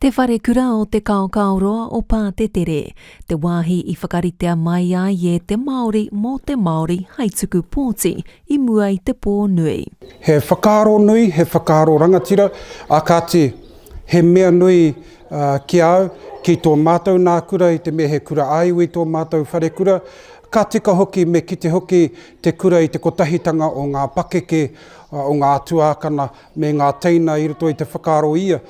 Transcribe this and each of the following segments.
Te Wharekura o Te Kaokaoroa o Pātetere, te wāhi i whakaritea mai ai e te Māori mō te Māori hai tuku pōti i mua i te pō nui. He whakaaro nui, he whakaaro rangatira, ā kāti, he mea nui ki a au, ki tō mātou nā kura i te mea he kura ā-iwi tō mātou wharekura, ka tika hoki me kite hoki te kura i te kotahitanga o ngā pakeke, o ngā tuākana, me ngā teina i roto i te whakaaro ia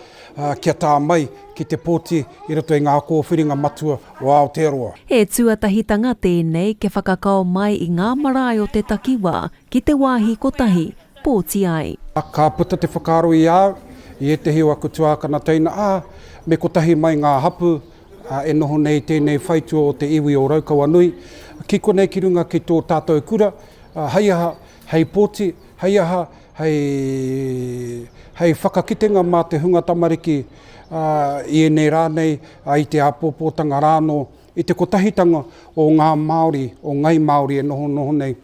kia tā mai ki te poti i roto i ngā kōwhiringa matua o Aotearoa. He tuatahitanga tēnei kia whakakao mai i ngā marae o te takiwā ki te wāhi kotahi, pōti ai. Ka puta te whakaaro i a au, i ētehi o aku tuākana teina, ā, me kotahi mai ngā hapū e noho nei i tēnei whaitua o te iwi o Raukawanui, ki konei ki runga ki tō tātou kura, hei aha, hei poti, hei aha, hei, hei whakakitenga mā te hunga tamariki, ā, i ēnei rā nei, ā, i te āpōpōtanga rā anō, i te kotahitanga o ngā Māori, o ngai Māori e noho noho nei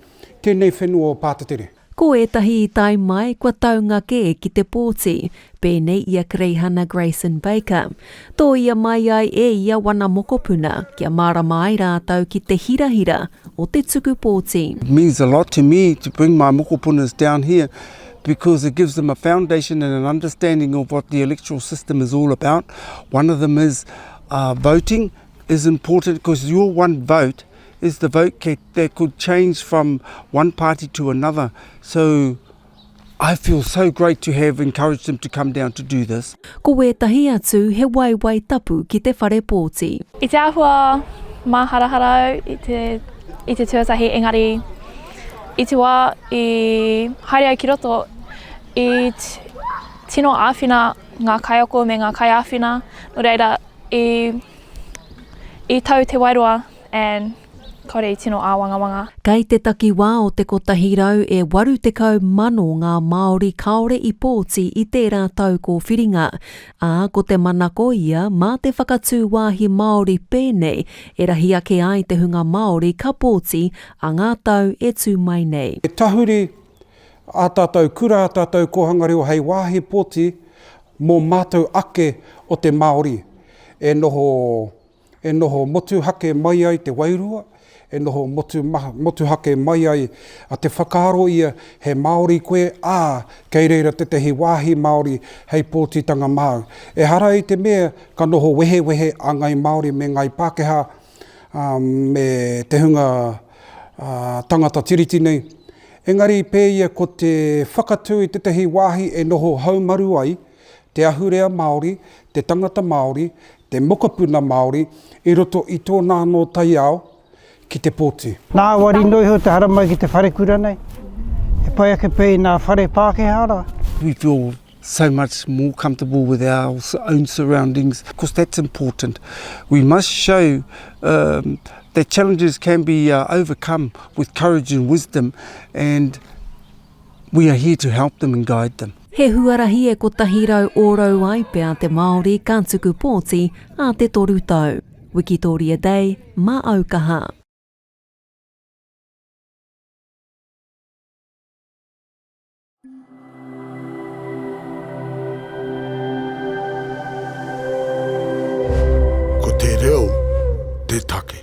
tēnei whenua o Pātetere. Ko ētahi i tae mai kua taunga kē ki te pōti, Pēnei i a Greihana Grayson Baker, tōia mai ai e ia wana mokopuna kia mārama ai rātou ki te hirahira o te tuku pōti. It means a lot to me to bring my mokopunas down here because it gives them a foundation and an understanding of what the electoral system is all about. One of them is voting is important because your one vote is the vote that could change from one party to another. So I feel so great to have encouraged them to come down to do this. Ko wētahi atu he waewae tapu ki te whare pōti. I te āhua māharahara au i te, i te tuatahi engari i te wā i haere au ki roto i tino āwhina ngā kaiako me ngā kaiāwhina, nō reira i, i tau te wairua and. Kāore i tino āwangawanga. Kei te takiwā o te 180,000 ngā Māori kāore i pōti i tērā tau kōwhiringa, ā, ko te manako ia mā te whakatū wāhi Māori pēnei e rahi ake ai te hunga Māori ka pōti a ngā tau e tū mai nei. He tahuri ā tātou kura, ā tātou kōhanga reo hei wāhi pōti mō mātou ake o te Māori e noho e noho motuhake mai ai te wairua, e noho motuhake mai ai te whakaaro ia he Māori koe, ā, kei reira tētahi wāhi Māori hei pōtitanga māu. Ehara i te mea ka noho wehewehe a Ngāi Māori me Ngāi Pākehā, ā, me te hunga tangata Tiriti nei, engari pēia ko te whakatū i tētahi wāhi e noho haumaru ai te ahurea Māori, te tangata Māori, te mokopuna Māori i roto i tōna anō taiao ki te poti. Ngāwari noa iho te haramai ki te wharekura nei, he pai ake pea i ngā whare Pākehā rā. We feel so much more comfortable with our own surroundings because that's important. We must show that challenges can be overcome with courage and wisdom and. We are here to help them and guide them. He huarahi e kotahi rau ōrau ai pea te Māori ka tuku pōti ā te toru tau. Wikitoria Day, mā au kaha. Ko te reo te take.